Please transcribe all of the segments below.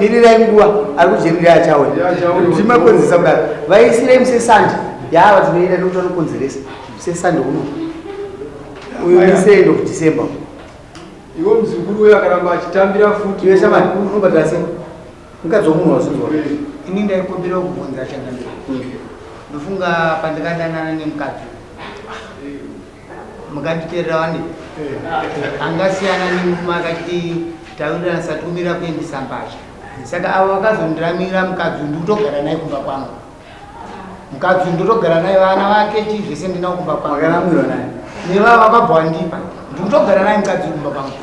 mirirai nguva ari kujemirira achawe timakonzeresa kudaro vaisirai musesandi yaava tinoita nekuti vanokonzeresa musesandi uno uyu misi end of december iwo mzukuru uyo akaramba achitambira futi iwe shamani unobhadhara sei mukadzi womunhu wazinzwa ini ndaikumbira kubvunza changamira ndofunga pandikadanana nemukadzi Mukanditerera wani angasiyana nekumakatitaurirana sati umira kuendesa mbatya saka avo vakazondiramira mukadzi ndikutogara naye kumba kwangu mukadzi ndotogara naye vana vake chii zvese ndinawo kumba kwangu nevava vakabva wandipa ndikutogara naye mukadzi kumba kwangu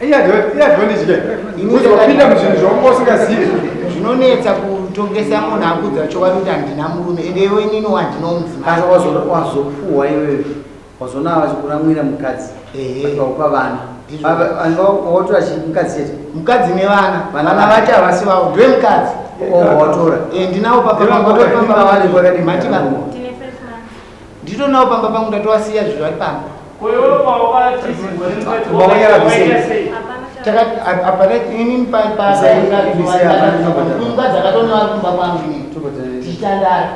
iyazvondizvipinda muzvinhu zvaunga usingazivi zvinonetsa kutongesa munhu akudza chokwadi kuti handina murume ende iwe inini wandino mudzimai wazopuhwa iwewe wazoona vachikuramwira mukadzi akaupa vana watora mukadzi chete mukadzi nevana vana vacho havasi vavo ndiwe mukadzi watora ndinawo papaaaaa Nditonawo pamba pangu ndatowasiya zviro ari pamba. Kumba dzakatonawa kumba kwangu ini. Tichitandara.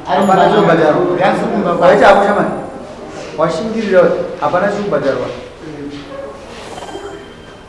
Ari mumba mangu. Yansi kumba kwangu. Washingirira hapana chiri kubhadharwa.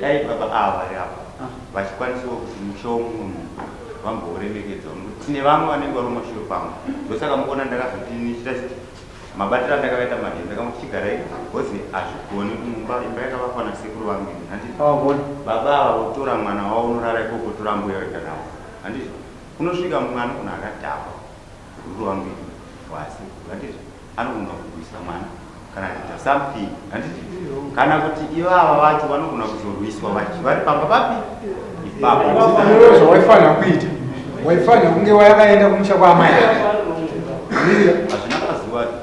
Dai baba ava vari apa vachikwanisawo kusimusawo mumwe munhu vambooremekedzawo nekuti tine vamwe vanenge varuma shure pamwe ndosaka mukuona ndakazoti ndichita chiti mabatiro andakavaita madii ndakambo tichigarai bhozi hazvigoni kumumba imba yakavakwa nasekuru vangu ini handiti baba ava votora mwana wavo unorara ikoko tora mbuya wega navo handiti kunosvika mumwe anogona akadhakwa Sekuru vangu wasi handiti anogona kurwisa mwana kana kuita something handiti kana kuti ivava vacho vanogona kuzorwiswa vachi vari pamba papi ipapo Iwe zvawaifanira kuita waifanira kunge wayakaenda kumusha kwaamai ake Miriya hazvina mazuva acho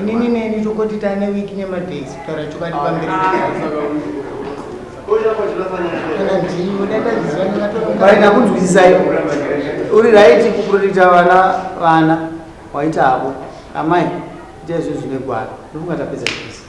inini neni tokoti tane wiki nemadays kutaura chokwadi pamberi vaina kunzwisisai uri raiti kuprotecta vana vana waita havo amai ita izvo zvine gwara ndokungatapedza chese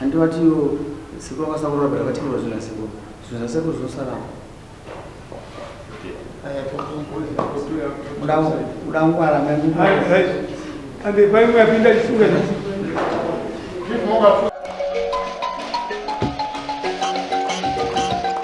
Handi vati yo sekuru vakasaurora but vatiurora zvinhu zvasekuru zvinhu zvasekuru zvinosarawo udangwara ande paimwe yapinda chifunga